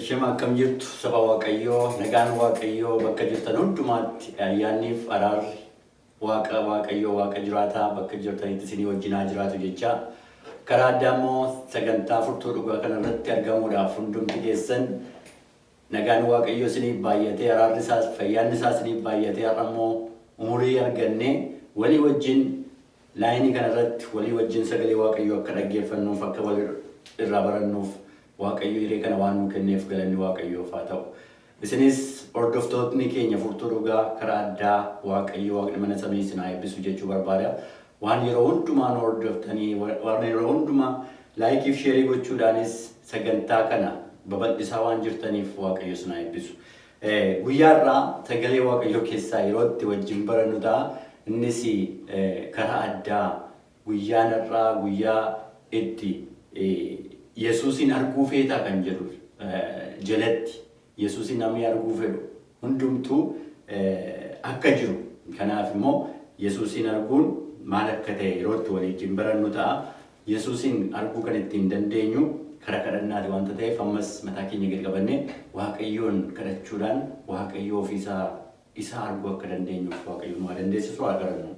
Shema akkam jirtu saba Waaqayyoo nagaan Waaqayyoo bakka jirtan hundumaatti ayyaanniif araarri waaqa Waaqayyoo waaqa jiraataa bakka jirtanitti isinii wajjin haa jiraatu jechaa karaa addaa immoo sagantaa furtuu dhugaa kanarratti argamuudhaaf hundumti keessan Nagaan Waaqayyoo isiniif baay'atee araarri isaas fayyaanni isaa isiniif baay'atee har'a immoo umurii argannee walii wajjin laayinii kana irratti walii wajjin sagalee Waaqayyoo akka dhaggeeffannuuf akka wal irraa barannuuf Waaqayyo hiree kana waan nuu kenneef galanni Waaqayyoof haa ta'u. Isinis hordoftootni keenya furtuu dhugaa karaa addaa Waaqayyo Waaqni mana samii isin haa eebbisu jechuu barbaada. Waan yeroo hundumaa nu hordoftanii waan yeroo hundumaa laayikii fi sheerii gochuudhaanis sagantaa kana babal'isaa waan jirtaniif Waaqayyo isin haa eebbisu. Guyyaa irraa sagalee Waaqayyoo keessaa yeroo itti wajjin barannu ta'a. Innis karaa addaa guyyaa har'aa guyyaa itti Yesuusiin arguu feetaa kan jedhu jalatti Yesuusi namni arguu fedhu hundumtuu akka jiru, kanaaf immoo Yesuusiin arguun maal akka ta'e yeroo itti walii wajjin barannu ta'a. Yesuusiin arguu kan ittiin dandeenyu karaa kadhannaati wanta ta'eef ammas mataa keenya gadi qabannee Waaqayyoon kadhachuudhaan Waaqayyoo ofii isaa isa arguu akka dandeenyuuf Waaqayyo nu haa dandeessisu haa kadhannu.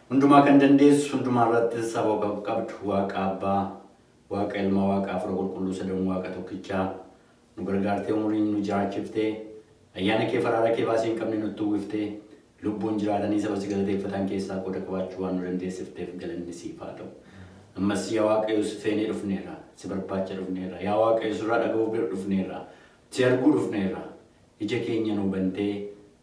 Hundumaa kan dandeessu, hundumaa irratti saba kan qabdu Waaqa Abbaa, Waaqa Ilma, Waaqa Hafuura Qulqulluu Sadan Waaqa tokkichaa, Nu gargaartee umuriin nu jiraachiftee Ayyaana kee faraara kee baasii hin qabne nutti uwwiftee Lubbuun jiraatanii saba si galateeffatan keessaa qooda qabaachuu waan nu dandeessifteef galanni siif haa ta'u. Ammas yaa Waaqayyo si feenee dhufneerra, si barbaacha dhufneerra, yaa Waaqayyo sirraa dhaga'uuf bira dhufneerra, si arguu dhufneerra, ija keenya nuu bantee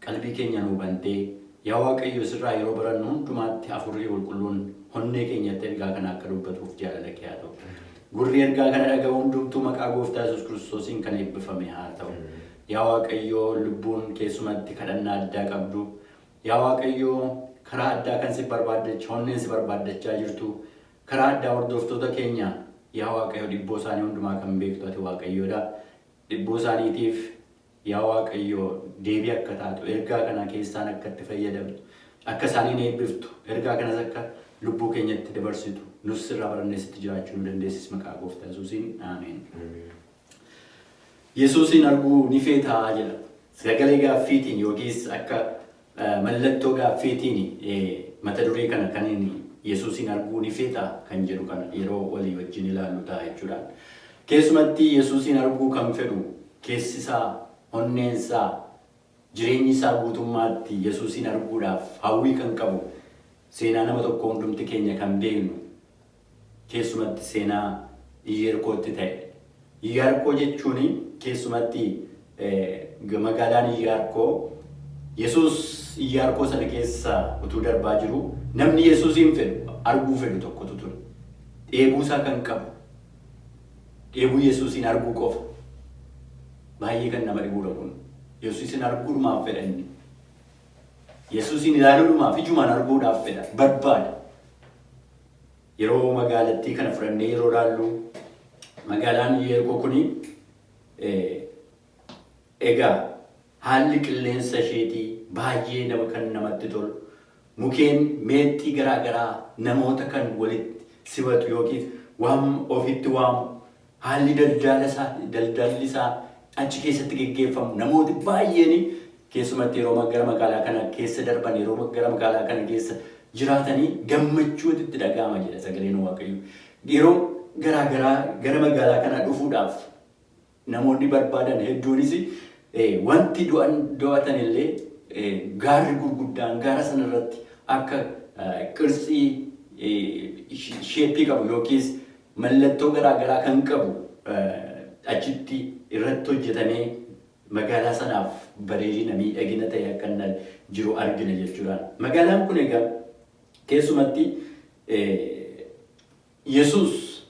Qalbii keenya nuu bantee. Yaa Waaqayyo sirraa yeroo barannu hundumaatti Hafuurri Qulqulluun honnee keenyatti ergaa kana akka dubbatuuf jaalala kee haa ta'u. Gurri ergaa kana dhaga'u hundumtuu maqaa Gooftaa Yesuus Kiristoosiin kan eebbifame haa ta'u. Yaa Waaqayyo lubbuun keessumatti kadhannaa addaa qabdu, yaa Waaqayyo karaa addaa kan si barbaaddach, honneen si barbaaddachaa jirtu, karaa addaa hordoftoota keenya yaa Waaqayyo dhibboo isaanii hundumaa kan beektu ati Waaqayyoodha. Dhibboo isaaniitiif Yaa Waaqayyo, deebii akka taatu, ergaa kana keessaan akka itti fayyadamtu, akka isaaniin eebbiftu, ergaa kanas akka lubbuu keenyatti dabarsitu, nus sirraa barannee sitti jiraachuu nu dandeessis maqaa Gooftaa Yesuusiin. Ameen. Yesuusiin arguu ni feetaa? jedha. Sagalee gaaffiitiin yookiis akka Mallattoo gaaffiitiini mata duree kana kaniin Yesuusiin arguu ni feeta? kan jedhu kana yeroo walii wajjin ilaallu ta'a jechuudha. Keessumatti Yesuusiin arguu kan fedhu keessi isaa, onneen isaa, jireenyi isaa guutummaatti Yesuusiin arguudhaaf hawwii kan qabu seenaa nama tokkoo hundumti keenya kan beeknu keessumatti seenaa Iyyeerkootti ta'e. Iyyaarkoo jechuun keessumatti magaalaan Iyyaarkoo Yesuus Iyyaarkoo sana keessa utuu darbaa jiru namni Yesuusiin fedhu arguu fedhu tokkotu ture. Dheebuu isaa kan qabu dheebuu Yesuusiin arguu qofa. Baay'ee kan nama dhibuudha kun. Yesuusiin arguudhumaaf fedha inni. Yesuusiin ilaaluudhumaaf ijumaan arguudhaaf fedha barbaada. Yeroo magaalattii kana fudhannee yeroo ilaallu magaalaan Iyeerkoo kuni egaa haalli qilleensa isheetii baay'ee nama kan namatti tolu mukeen meexxii garaa garaa namoota kan walitti simatu yookiis waan ofitti waamu Haalli daldaala isaa, daldalli isaa achi keessatti geggeeffamu namooti baay'een keessumatti yeroo ma, gara magaalaa kana keessa darban, yeroo ma, gara magaalaa kana keessa jiraatanii gammachuutu itti dhaga'ama jedha sagaleen Waaqayyoo. Yeroo garaa garaa gara magaalaa kanaa dhufuudhaaf namoonni barbaadan hedduunis eh, wanti du'an do'atan illee eh, gaarri gurguddaan gaara sana irratti akka eh, qirtsii eh, sh- sheeppii qabu yookiis Mallattoo garaa garaa kan qabu achitti irratti hojjetamee magaalaa sanaaf bareedina, miidhagina ta'e akka inni jiru argina jechuudha. Magaalaan kun egaa keessumatti Yesuus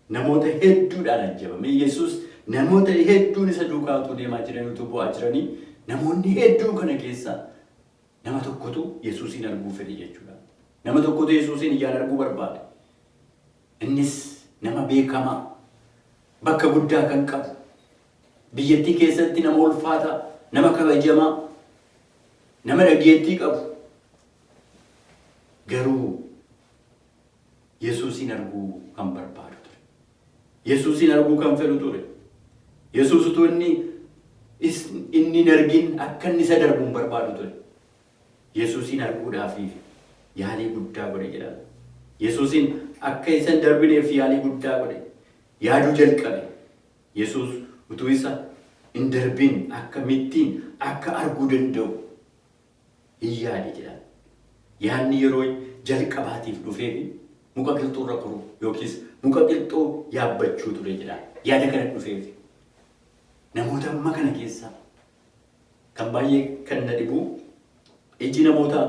namoota hedduudhaan ajjabame. Yesuus namoota hedduun isa duukaa utuu deemaa jiranii utuu bu'aa jiranii namoonni hedduun kana keessa nama tokkotu Yesuusiin arguu fedhe jechuudha. Nama tokkotu Yesuusiin ijaan arguu barbaade. Innis nama beekamaa, bakka guddaa kan qabu, biyyattii keessatti nama ulfaataa, nama kabajamaa, nama dhageettii qabu. Garuu Yesuusiin arguu kan barbaadu ture. Yesuusiin arguu kan fedhu ture. Yesuus utuu inni inni hin argin akka inni isa darbu hin barbaadu ture. Yesuusiin arguudhaaf yaalii guddaa godhe jedhama. Yesuusiin akka isa hin darbineef yaalii guddaa godhe. Yaaduu jalqabe. Yesuus utuu isa hin darbin akka mittiin akka arguu danda'u hin yaade jedhama. Yaadni yeroo jalqabaatiif dhufeefi muka qilxuurra koruu yookiis muka qilxuu yaabbachuu ture jedhama. Yaada kana dhufeef. Namoota amma kana keessaa Kan baay'ee kan na dhibu iji namoota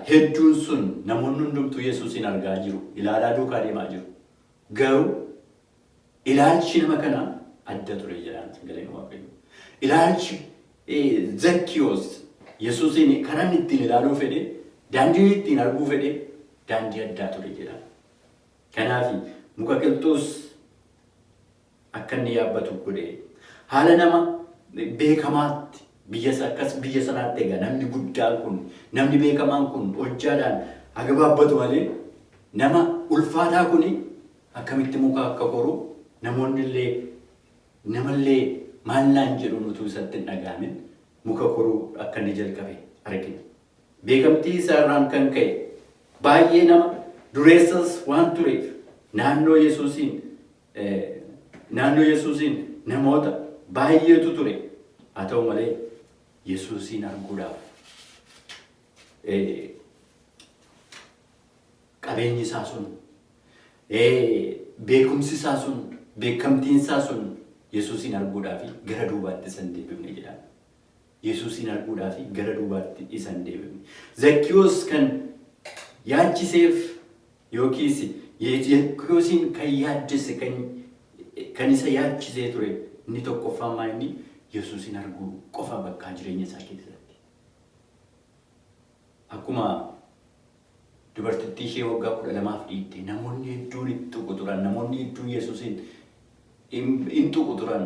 hedduun sun namoonni hundumtuu Yesuusiin argaa jiru, ilaalaa duukaa deemaa jiru. Garuu ilaalchi nama kanaa adda ture jedhaan sagaleen waaqayyo. Ilaalchi Zakkiyoos Yesuusiin kanan ittiin ilaaluu fedhe, daandiin ittiin arguu fedhe daandii addaa ture jedhaan. Kanaaf muka qilxuus akka inni yaabbatu godhe. Haala nama beekamaatti biyya sa- akkas biyya sanaatti egaa namni guddaan kun namni beekamaan kun hojjaadhaan haa gabaabbatu malee nama ulfaataa kun akkamitti muka akka koru namoonni illee namallee maal naan jedhuun utuu isatti hin dhaga'amin muka koruu akka inni jalqabe argina. Beekamtii isaa irraan kan ka'e baay'ee nama dureessas waan tureef naannoo Yesuusiin Naannoo Yesuusiin namoota baay'eetu ture. Haa ta'u malee Yesuusiin arguudhaaf qabeenyi isaa sun, beekumsi isaa sun, beekamtiin isaa sun Yesuusiin arguudhaaf gara duubaatti isan deebifne jedhama. Yesuusiin arguudhaaf gara duubaatti isa hin deebifne. Zakkiwoos kan yaachiseef yookiis Zakkiwoosiin kan yaaddesse kan isa yaachisee ture inni tokkoffaan maa inni Yesuusiin arguu qofa bakkaa jireenya isaa keessatti. Akkuma dubartittii ishee waggaa 12f dhiitte, namoonni hedduun itti tuqu turan. Namoonni hedduun Yesuusiin in tuqu turan.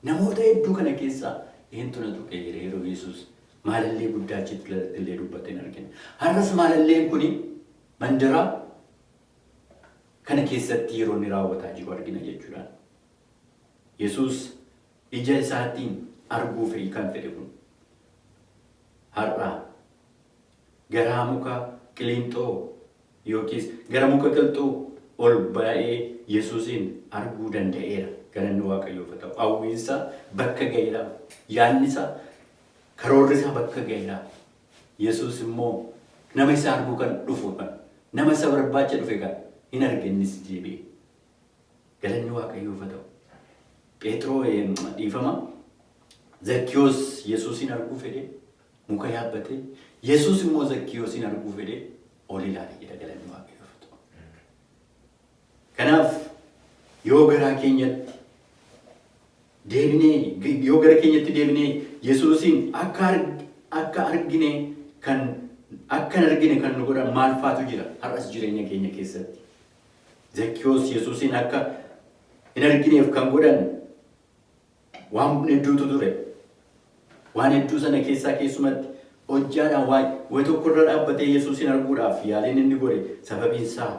Namoota hedduu kana keessaa eentu na tuqe jedhee yeroo Yesuus maalallee guddaa achitti illee dubbate hin argina. Har'as maalalleen kun mandara kana keessatti yeroo inni raawwataa jiru argina jechuudha. Yesuus ija isaattiin arguu fi kan fedhe kun har'a garaa muka qilinxoo yookiis gara muka qilxuu ol ba'ee Yesuusiin arguu danda'eera. Galanni Waaqayyoof haa ta'u. Hawwiinsaa bakka ga'eera. Yaadnisaa karoorrisaa bakka ga'eera. Yesuus immoo nama isa arguu kan dhufu kan nama isa barbaacha dhufe kan hin arge innis deebi'e. Galanni Waaqayyoof haa ta'u. Pheexiroo dhiifama Zakkiyoos Yesuusiin arguu fedhe muka yaabbate. Yesuus immoo Zakkiyoosiin arguu fedhe ol ilaale jedha galanni Waaqayyoof haa ta'u. Kanaaf yoo garaa keenyatti deebinee yoo gara keenyatti deebinee Yesuusiin akka arg- akka argine kan akka hin argine kan nu godhan maal faatu jira har'as jireenya keenya keessatti. Zakkiwoos Yesuusiin akka hin argineef kan godhan waan hedduutu ture. Waan hedduu sana keessaa keessumatti hojjaadhaan waa'ee wayi tokko irra dhaabbatee Yesuusiin arguudhaaf yaaliin inni godhe sababiin isaa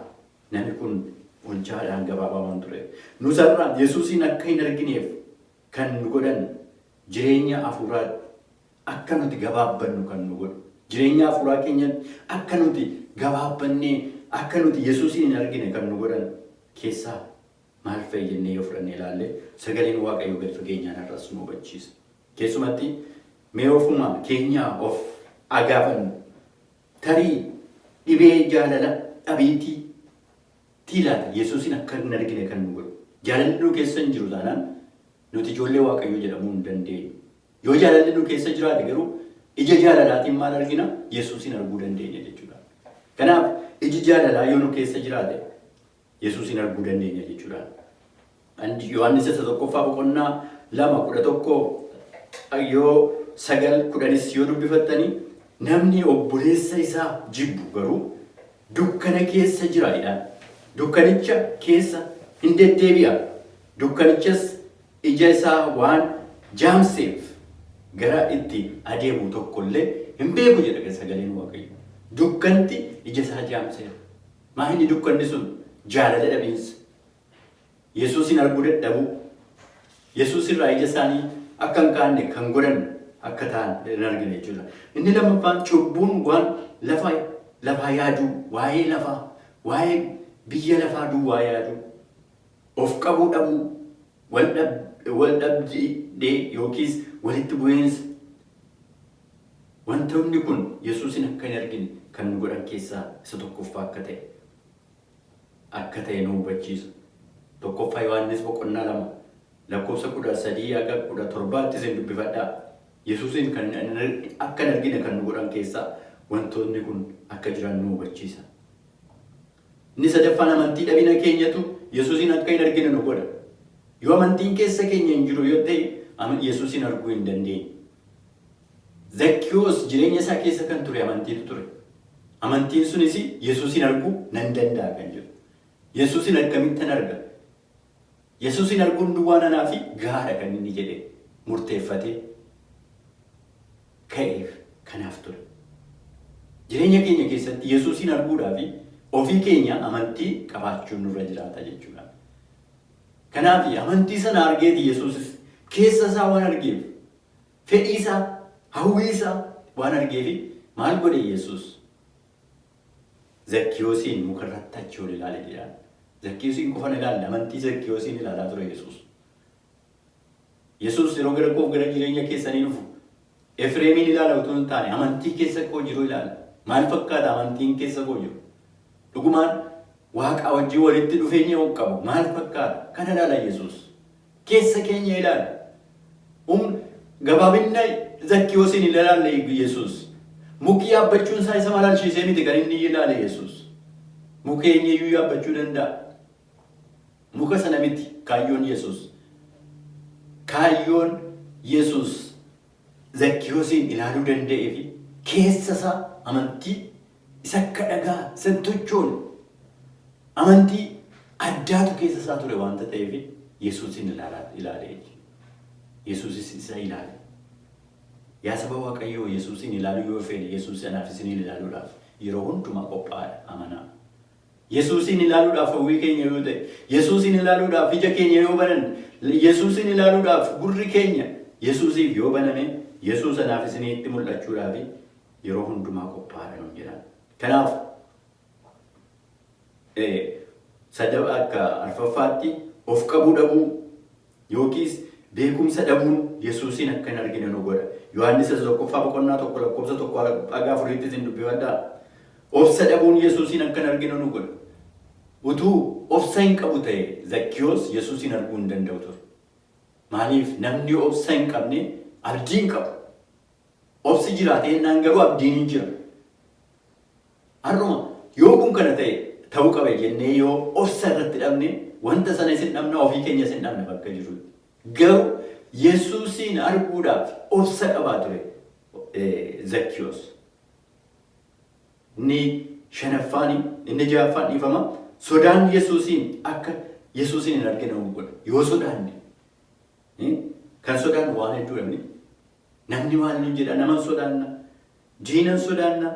namni kun hojjaadhaan gabaabaa waan ture. Nus har'a Yesuusiin akka hin argineef kan nu godhan jireenya hafuuraa Akka nuti gabaabbannu kan nu godhu, jireenya hafuuraa keenyatti akka nuti gabaabbannee, akka nuti Yesuusiin hin argine kan nu godhan keessaa maal fa'i jennee yoo fudhannee ilaalle, sagaleen Waaqayyoo gad fageenyaan har'as nu hubachiisa. Keessumatti mee ofuma keenyaa of haa gaafannu. Tarii dhibee jaalala dhabiitii tii laata Yesuusiin akka hin argine kan nu godhu? Jaalalli nu keessa hin jiru taanaan nuti ijoollee Waaqayyoo jedhamuu hin dandeenyu. Yoo jaalalli nu keessa jiraate garuu ija jaalalaatiin maal argina? Yesuusiin arguu dandeenya jechuudha. Kanaaf iji jaalalaa yoo nu keessa jiraate Yesuusiin arguu dandeenya jechuudha. Andi- Yohaannis isa tokkoffaa boqonnaa lama kudha tokko yoo sagal kudhanis yoo dubbifattanii namni obboleessa isaa jibbu garuu dukkana keessa jira jedhaan. Dukkanicha keessa hin deddeebi'a. Dukkanichas Ija isaa waan jaamseef gara itti adeemu tokko illee hin beeku jedha sagaleen Waaqayyoo. Dukkanti ija isaa jaamseera. Maa inni dukkanni sun jaalala dhabiinsa, Yesuusiin arguu dadhabuu, Yesuus irraa ija isaanii akka hin kaanne kan godhan akka ta'an hin argine jechuudha. Inni lammaffaan cubbuun waan lafa lafaa yaaduu, waa'ee lafaa, waa'ee biyya lafaa duwwaa yaaduu, Of qabuu dhabuu, wal dhabdee yookiis walitti bu'iinsa. Wantoonni kun Yesuusiin akka hin argine kan nu godhan keessaa isa tokkoffaa akka ta'e akka ta'e nu hubachiisa. 1ffaa Yohaannis boqonnaa 2 lakkoofsa 13-17 tti isin dubbifadhaa. Yesuusiin kan akka hin argine kan nu godhan keessaa wantoonni kun akka jiran nu hubachiisa. Inni sadaffaan amantii dhabina keenyatu Yesuusiin akka hin argine nu godha. Yoo amantiin keessa keenya hin jiru yoo ta'e ama- Yesuusiin arguu hin dandeenyu. Zakkiyoos jireenya isaa keessa kan ture amantiitu ture. Amantiin sunis Yesuusiin arguu nan danda'a kan jedhu. Yesuusiin akkamittan arga? Yesuusiin arguun duwwaan anaafi gahaadha kan inni jedhe murteeffatee ka'eef kanaaf ture. Jireenya keenya keessatti Yesuusiin arguudhaafi ofii keenya amantii qabaachuun nurra jiraata jechuudha. Kanaafi amantii sana argeeti Yesuusis keessa isaa waan argeef, fedhii isaa, hawwii isaa waan argeefi maal godhe Yesuus? Zakkiyoosiin muka irratti achi ol ilaale jedhaan. Zakkiyoosiin qofa hin ilaalle, amantii Zakkiyoosiin ilaalaa ture Yesuus. Yesuus yeroo gara koof gara jireenya keessanii dhufu Efreemiin ilaala utuu hin taane amantii keessa koo jiru ilaala. Maal fakkaata amantiin keessa koo jiru? Dhugumaan waaqaa wajjin walitti dhufeenya qabu maal fakkaata? Kana ilaala Yesuus. keessa keenya ilaali. Um, gabaabinna Zakkiyoosiin hin ilaalle Yesuus. Mukii yaabbachuun isaa isa malalchiisee miti kan inni ilaale Yesuus. Muka eenyuyyuu yaabbachuu danda'a. Muka sana miti kaayyoon Yesuus. Kaayyoon Yesuus Zakkiyoosiin ilaaluu danda'ee fi keessa isaa amantii Isa akka dhagaa isa hin tochoone amantii addaatu keessa isaa ture waanta ta'eef Yesuusin ilaalaa ilaale jechuudha. Yesuusis isa ilaale. Yaa saba Waaqayyoo Yesuusin ilaaluu yoo feene Yesuus anaaf isiniin ilaaluudhaaf yeroo hundumaa qophaa'aadha amanaa. Yesuusin ilaaluudhaaf hawwii keenya yoo ta'e, Yesuusin ilaaluudhaaf ija keenya yoo banan, Yesuusin ilaaluudhaaf gurri keenya Yesuusiif yoo baname Yesuus anaaf isiniitti mul'achuudhaaf yeroo hundumaa qophaa'aadha nuun jedhaan. Kanaaf sadaba akka arfaffaatti of qabuu dhabuu yookiis beekumsa dhabuun Yesuusiin akka hin argine nu godha. Yohaannis isa tokkoffaa boqonnaa tokko lakkoofsa tokko haga afuriitti isin dubbifadhaa. Obsa dhabuun Yesuusiin akka hin argine nu godha. Utuu obsa hin qabu ta'e Zakkiyoos Yesuusiin arguu hin danda'u ture. Maaliif namni obsa hin qabne abdii hin qabu. Obsi jira teennaan garuu abdiin hin jira. Har'uma yoo kun kana ta'e ta'uu qaba jennee yoo obsa irratti dhabne wanta sana isin dhabna ofii keenya isin dhabna bakka jirutti. Garuu Yesuusiin arguudhaaf obsa qabaa ture Zakkiyoos. Inni shanaffaan inni ja'affaan dhiifama sodaan Yesuusiin akka Yesuusiin hin argine nu godha. Yoo sodaanne kan sodaannu waan hedduudha miti. Namni maal nuun jedha? Naman sodaanna, diinan sodaanna,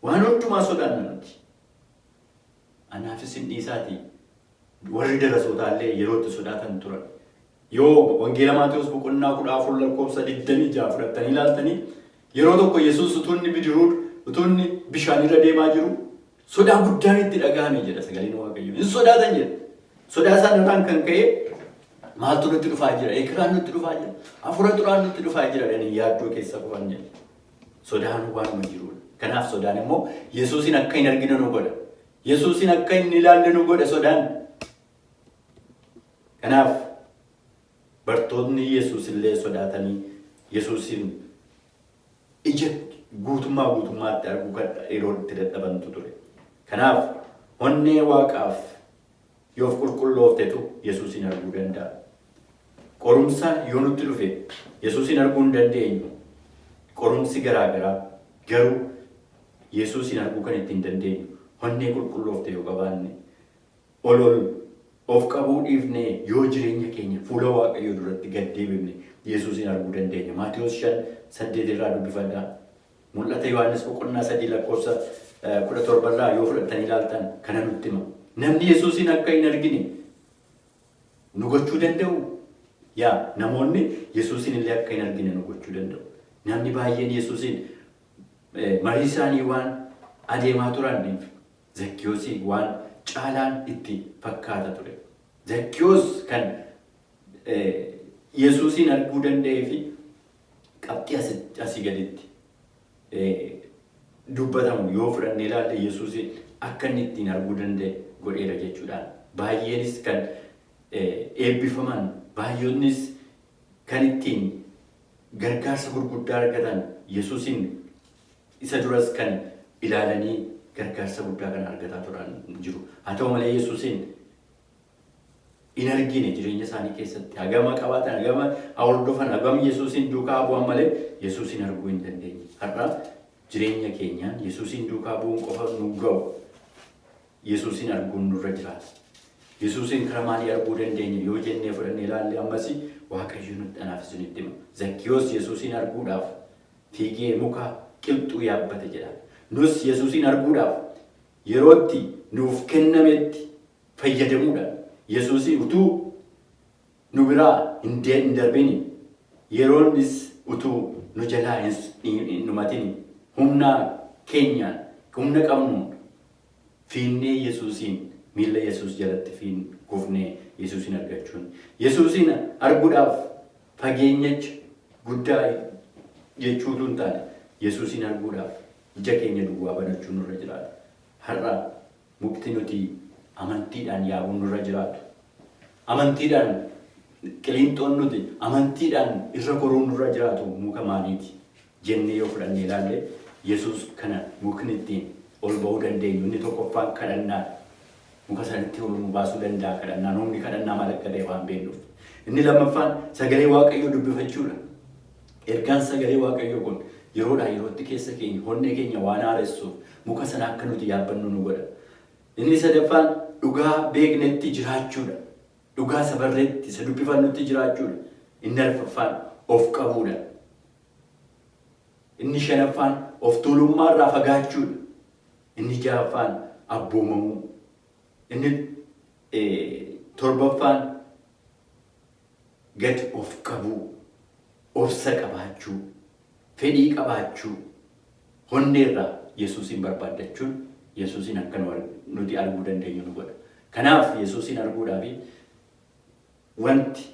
waan hundumaa sodaanna nuti. Anaaf isin dhiisaatii warri darasootaa illee yeroo itti sodaatan turan. Yoo Wangeela Maatewos boqonnaa kudha afur lakkoofsa digdamii ja'a fudhattanii ilaaltanii yeroo tokko Yesuus utuu inni bidiruu utuu inni bishaanirra deemaa jiru Sodaa guddaan itti dhaga'ame jedha sagaleen Waaqayyoo. Hin sodaatan jedha. Sodaa isaan irraan kan ka'e maaltu nutti dhufaa jira? Eekaraan nutti dhufaa jira. Hafuura xuraan nutti dhufaa jira. Dhanii yaaddoo keessa kufan jedha. Sodaan waanuma jirudha. Kanaaf sodaan immoo Yesuusin akka hin argine nu godha. Yesuusin akka hin ilaalle nu godha sodaan. Kanaaf bartoonni Yesuus illee sodaatanii Yesuusin ija guutummaa guutummaatti arguu kan yeroon itti dadhabantu ture. Kanaaf onnee waaqaaf yoo of qulqullooftetu Yesuusiin arguu danda'a. Qorumsa yoo nutti dhufe Yesuusiin arguu hin dandeenyu. Qorumsi garaa garaa garuu Yesuusiin arguu kan ittiin dandeenyu onnee qulqulloofte yoo qabaanne Ol ol of qabuu dhiifnee yoo jireenya keenya fuula Waaqayyoo duratti gad deebifne Yesuusiin arguu dandeenya. Maatewos 5, 8 irraa dubbifadhaa. Mul'ata Yohaannis boqonnaa 3 lakkoofsa 17 irraa yoo fudhattanii ilaaltan kana nutti hima. Namni Yesuusiin akka hin argine nu gochuu danda'u? Yaa namoonni Yesuusiin illee akka hin argine nu gochuu danda'u. Namni baay'een Yesuusiin marii isaanii waan adeemaa turaniif Zakkiyoosiin waan caalaan itti fakkaata ture. Zakkiyoos kan Yesuusiin arguu danda'ee fi qabxii asii gaditti dubbatamu yoo fudhannee ilaalle Yesuusiin akka inni ittiin arguu danda'e godheera jechuudhaan baay'eenis kan eebbifaman baay'oonnis kan ittiin gargaarsa gurguddaa argatan Yesuusiin Isa duras kan ilaalanii gargaarsa guddaa kan argataa turan jiru. Haa ta'u malee Yesuusiin hin argine jireenya isaanii keessatti. Hagama qabaatan, hagama hordofan, hagam Yesuusiin duukaa bu'an malee Yesuusiin arguu hin dandeenye. Har'a jireenya keenyaan Yesuusiin duukaa bu'uun qofa nu ga'u. Yesuusiin arguun nurra jiraata. Yesuusiin karaa maalii arguu dandeenya yoo jennee fudhannee ilaalle ammas Waaqayyo nutti anaaf isinitti hima. Zakkiyoos Yesuusiin arguudhaaf Fiigee muka qilxuu yaabbate jedha. Nus Yesusiin arguudhaaf yeroo itti nuuf kennametti fayyadamuudhaan Yesusiin utuu nu biraa hin darbini, yeroonnis utuu nu jalaa hin dhumatini humna keenyaan, humna qabnuun fiinnee Yesusiin, miilla Yesus jalatti kufnee Yesusiin argachuun, Yesusiin arguudhaaf fageenyach guddaa i jechuu utuu hin taane Yesuusiin arguudhaaf ija keenya duwwaa banachuu nurra jiraata. Har'a mukti nuti amantiidhaan yaabuu nurra jiraatu, amantiidhaan qiliinxoon nuti amantiidhaan irra goruu nurra jiraatu muka maaliiti? jennee yoo fudhannee ilaalle, Yesuus kana mukni ittiin ol ba'uu dandeenyu inni tokkoffaan kadhannaa dha. Muka sana ittiin ol nu baasuu danda'a kadhannaan. Humni kadhannaa maal akka ta'e waan beeknuuf. Inni lammaffaan sagalee Waaqayyoo dubbifachuu dha. Ergaan sagalee Waaqayyoo kun yeroodhaa yerootti keessa keenya, onnee keenya waan haaressuuf muka sana akka nuti yaabbannu nu godha. Inni sadaffaan dhugaa beeknetti jiraachuu dha. Dhugaa isa barreetti, isa dubbifannutti jiraachuu dha. Inni arfaffaan of qabuu dha. Inni shanaffaan of tuulummaa irraa fagaachuu dha. Inni ja'affaan abboomamuu. Inni torbaffaan gad of qabuu, obsa qabaachuu, fedhii qabaachuu, honnee irraa Yesuusiin barbaaddachuun Yesuusiin akka nuti arguu dandeenyu nu godha. Kanaaf Yesuusiin arguudhaaf wanti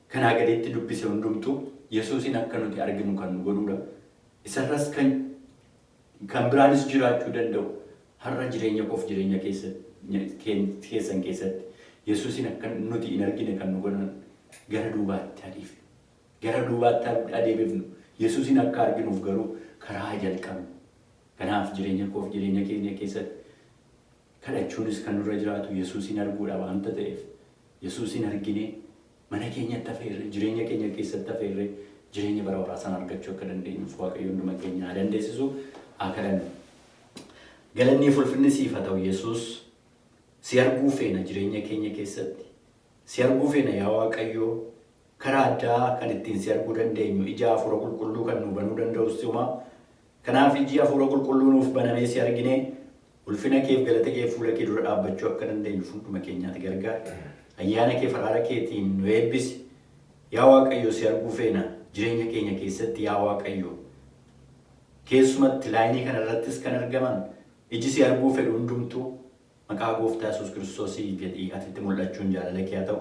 kanaa gaditti dubbise hundumtuu Yesuusiin akka nuti arginu kan nu godhuudha. Isarras kan kan biraanis jiraachuu danda'u har'a jireenya koof jireenya keessan keessatti Yesuusiin akka nuti hin argine kan nu godhan gara duubaatti adiif gara duubaatti adeebifnu Yesuusiin akka arginuuf garuu karaa jalqabnu. Kanaaf jireenya koof jireenya keenya keessatti Kadhachuunis kan nurra jiraatu Yesuusiin arguudha waanta ta'eef, Yesuusiin arginee mana keenyatti afeerree, jireenya keenya keessatti afeerree jireenya bara baraa sana argachuu akka dandeenyuuf Waaqayyo hunduma keenya haa dandeessisu. Haa kadhannu. Galannii fi ulfinni siif haa ta'u Yesuus. Si arguu feena jireenya keenya keessatti. Si arguu feena yaa Waaqayyo. Karaa addaa kan ittiin si arguu dandeenyu ija hafuura qulqulluu kan nuu banuu danda'u si'uma. Kanaaf ijji Hafuura Qulqulluu nuuf banamee si arginee ulfina keef galata keef fuula kee dura dhaabbachuu akka dandeenyu fuunduma keenyaati gargaari. Ayyaana keef araara keetiin nu eebbisi. Yaa Waaqayyo si arguu feena jireenya keenya keessatti yaa Waaqayyo. Keessumatti laayinii kana irrattis kan argaman iji si arguu fedhu hundumtuu maqaa gooftaa Yesuus Kiristoosii jedhii ati itti mul'achuun jaalala kee haa ta'u.